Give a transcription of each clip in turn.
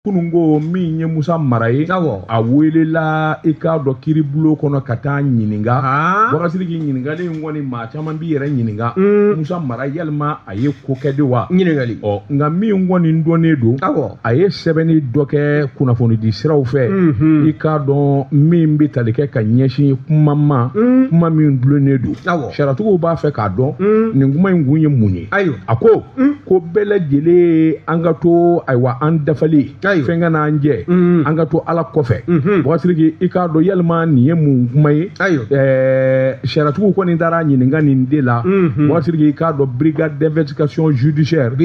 kunun ko min ye musa mara ye a welela i k'a dɔn kiiribulon kɔnɔ ka taa ɲininka wakasiri k'i ɲininkali in kɔni maa caman b'i yɛrɛ ɲininka mm. musa mara yalima a ye ko kɛ de wa ɲininkali ɔ nka min kɔni dɔnnen don a ye sɛbɛnni dɔ kɛ kunnafonidi siraw fɛ mm-hmm. i k'a dɔn min bɛ tali kɛ ka ɲɛsin kuma ma mm. kuma min dulonnen don sariyatigiw b'a fɛ k'a dɔn mm. nin kuma in kun ye mun ye a ko Mm. ko bɛɛ lajɛlen an ka to ayiwa an dafalen fɛn kana an jɛ mm. an ka to ala kɔfɛ mm-hmm. bɔsiriki i k'a dɔn yalima nin ye mun kuma ye sariyatigiw kɔni taara ɲininka nin de la mm-hmm. bɔsiriki i k'a dɔn brigade d'investigation judiciaire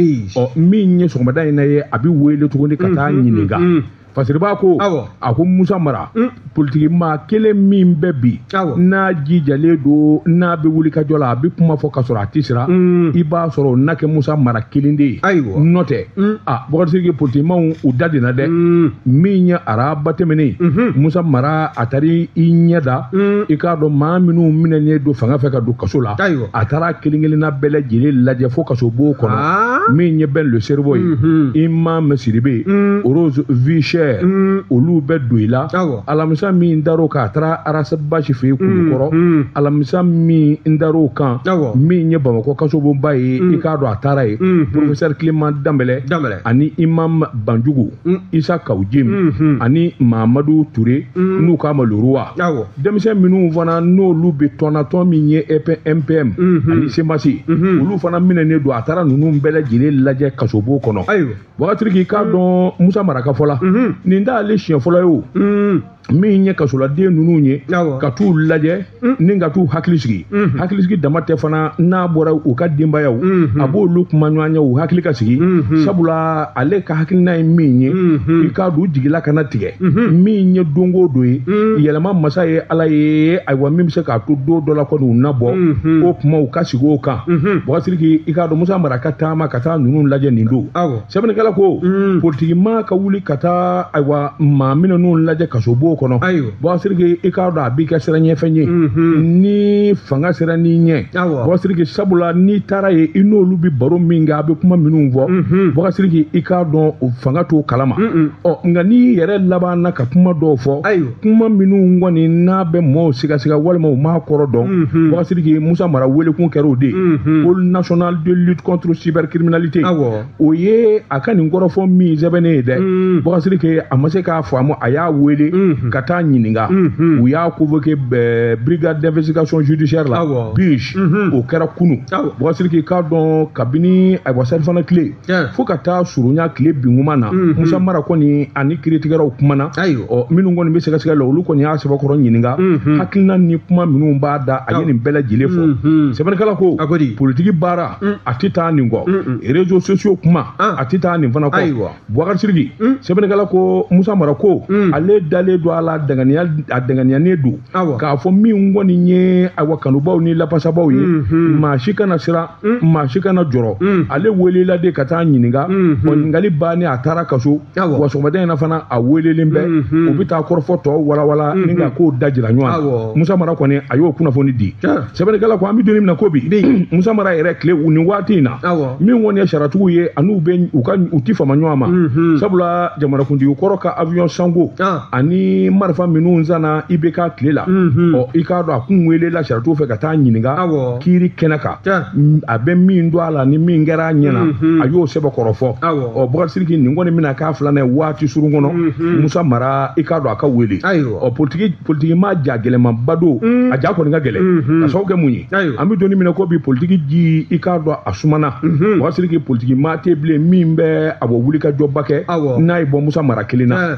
min ye sɔgɔmada in na ye a bɛ wele tuguni ka taa mm-hmm. ɲininka fasiriba ko a ko musa mara mm. politikimaa kelen min bɛ bi n'a jijalen don n'a bɛ wuli ka jɔ la a bɛ kuma fɔ ka sɔrɔ a tɛ siran mm. i b'a sɔrɔ n'a kɛ musa mara kelen de ye nɔntɛ mm. a bɔgɔsiriki politikimaw u dadenna dɛ min ye araba tɛmɛnen mhm. musa mara a taara i ɲɛ da i k'a dɔn maa minnu minɛnen don fanga fɛ ka don kaso la a taara kelen kelenna bɛɛ lajɛlen lajɛ fo kasobon kɔnɔ ah. min ye ben le cerveau ye mhm. imam sidibe mm. rose vie chère mm. olu bɛ dɔyila alamisa min dar'o kan a taara ras bath fɛ yen kulukɔrɔ mm, alamisa min dar'o kan min ye bamakɔ kasobonba ye i k'a dɔn a taara yen professeur clément danbɛlɛ ani imam banjugu isa kawu jim ani mamadu ture n'u k'a ma le roi denmisɛn minnu fana n'olu bɛ tɔn na tɔn min ye mppm ani cmas olu fana minɛnen don a taara ninnu bɛɛ lajɛlen lajɛ kasobon kɔnɔ wagati k'i k'a dɔn musa mara ka fɔ la nin t'ale siɲɛ fɔlɔ ye o min ye kasoladen ninnu ye ka t'u lajɛ mm. ni ka t'u hakili sigi mm-hmm. hakili sigi dama tɛ fana n'a bɔra u ka denbayaw mm-hmm. a b'olu kumaɲɔgɔnya u hakili ka sigi mm-hmm. sabula ale ka hakilina ye min ye i k'a dɔn u jigila kana tigɛ min ye don o don ye mm. yɛlɛma masa ye ala ye ayiwa min bɛ se k'a to don dɔ la kɔni u na bɔ o kuma u ka sigi o kan bɔgɔsiriki i k'a dɔn musa mara ka taama ka taa ninnu lajɛ nin don sɛbɛnnikɛla ko mm. politikimaa ka wuli ka taa ayiwa maa minɛnenw lajɛ kasobon kɔnɔ bɔsiriki i k'a dɔn a b'i kɛ siranɲɛfɛn ye mm-hmm. ni fanga sirann'i ɲɛ bɔsiriki sabula n'i taara yen i n'olu bɛ baro min kɛ a bɛ kuma minnu fɔ mm-hmm. bɔsiriki i k'a dɔn fanga t'o kalama ɔ nka n'i yɛrɛ labanna ka kuma dɔw fɔ kuma minnu kɔni n'a bɛ mɔɔw sigasiga walima u m'a kɔrɔ dɔn mhm. wagasiriki musa mara welekun kɛra o de ye mhm. pôle national de lutte contre cybercriminalité o ye a ka nin kɔrɔfɔ min sɛbɛnnen ye dɛ mhm. wagasiriki a ma se k'a faamu a y'a wele ka taa ɲininka u y'a convoqué brigade d'investigation judiciaire la bij o kɛra kunu wagasiriki k'a dɔn kabini ayiwa salifana tile fo ka taa surunya tile binkuma na mhm. musa mara kɔni ani kiiritigɛlaw kumana ɔ minnu kɔni bɛ sɛgɛsɛgɛ la olu kɔni y'a sɛbɛkɔrɔ ɲininka mhm. hakilina ni kuma minnu b'a da a ye nin bɛɛ lajɛlen fɔ mhm. sɛbɛnnikɛla ko politiki baara mm. a tɛ taa nin kɔ rezo sosiyo kuma ah. a tɛ taa nin fana kɔ bubakari sidiki mm. sɛbɛnnikɛla ko musa mara ko mm. ale dalen don a la a danganiyanen don k'a fɔ min kɔni ye ayiwa kanubaw ni lapasabaw ye maa si kana siran Mm. maa si kana jɔrɔ mm. ale welela de ka taa ɲininka mm-hmm. ɔ ɲininkali bannen a taara a ka so wa sɔgɔmada in na fana a welelen bɛ mm-hmm. u bɛ taa kɔrɔfɔ tɔw walawala mm-hmm. ni ka kow da jira ɲɔgɔn na musa mara kɔni a y'o kunnafoni di sɛbɛnnikɛla ko an bɛ don min na ko bi musa mara yɛrɛ tile nin waati in na min kɔni ye sariyatigiw ye ani u tɛ fama ɲɔgɔn ma sabula jamanakuntigi kɔrɔ ka avion sanko ah. ani marifa minnu sanna IBK tile la ɔ i k'a dɔn a kun welela sariyatigiw fɛ ka taa ɲininka kiiri kɛnɛ kan a bɛ min dɔn a la ni min kɛra a ɲɛna a y'o sɛbɛkɔrɔ fɔ ɔ bakari sidiki nin kɔni bɛna k'a filanan ye waati surun kɔnɔ musa mara i k'a dɔn a ka wele ɔ politiki politiki maa ja gɛlɛmanba don a ja kɔni ka gɛlɛn ka sababu kɛ mun ye Ayiwa. an bɛ don min na ko bi politiki ji i k'a dɔn a sumana Mhm. bakari sidiki politiki maa tɛ bilen min bɛ a bɔ wuli ka jɔba kɛ Awɔ. n'a ye bɔ musa mara kelen na Eh.